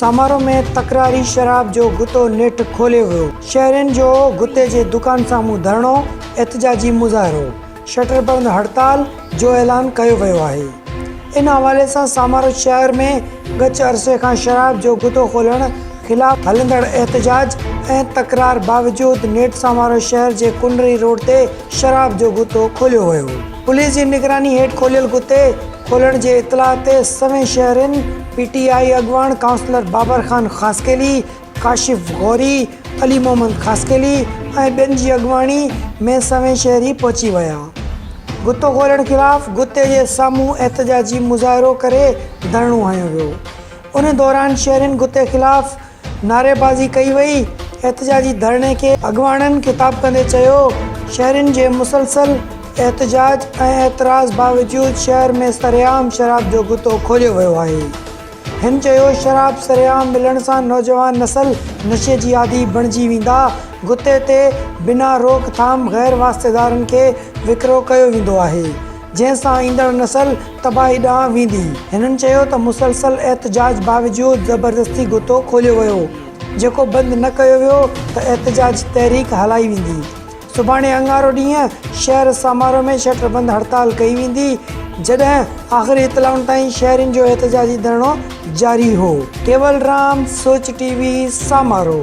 سامارو ۾ تڪراري شراب جو غطو نيٺ کوليو ويو، شهرين جو غطي جي دڪان سامهون ڌرڻو، احتجاجي مظاهرو، شٽر بند هڙتال، جو اعلان ڪيو ويو آهي ان حوالي سان سامارو شهر ۾ ڳچ عرصي کان شراب جو گدو کولڻ خلاف هلندڙ احتجاج ۽ تڪرار باوجود نيٺ سامارو شهر جي ڪنري روڊ تي شراب جو گدو کوليو ويو پوليس جي نگراني هيٺ کوليل گدي کولڻ جي اطلاع تي سوين شهرين پي ٽي آء اڳواڻ ڪائونسلر بابر خان خاصخيلي ڪاشف غوري، علي محمد خاصخيلي ۽ ٻين جي اڳواڻي ۾ سوين شهري پهچي ويا. غطو کولڻ خلاف غطي جي سامهون احتجاجي مظاهرو ڪري ڌرڻو هنيو ويو. ان دوران شهرين غطي خلاف نعريبازي ڪئي وئي. احتجاجي ڌرڻي کي اڳواڻن خطاب ڪندي چيو، شهرين جي مسلسل احتجاج ۽ اعتراض باوجود شهر ۾ سرعام شراب جو غطو کوليو ويو آهي. هن چيو شراب سرعام ملڻ سان نوجوان نسل نشي جي عادي بڻجي ويندا، گتي تي بنا روڪ ٿام غير واسطيدارن کي وڪرو ڪيو ويندو آهي، جنهن سان ايندڙ نسل تباهي ڏانهن ويندي. هنن چيو ته مسلسل احتجاج باوجود زبردستي گتو کوليو ويو، جيڪو بند نه ڪيو ويو ته احتجاج تحريڪ هلائي ويندي. سڀاڻي اڱارو ڏينهن شهر سامارو ۾ شٽر بند هڙتال ڪئي ويندي، جڏهن آخري اطلاعن تائين شهرين جو احتجاجي ڌرڻو جاري هو. ڪيولرام، سوچ ٽي وي، سامارو.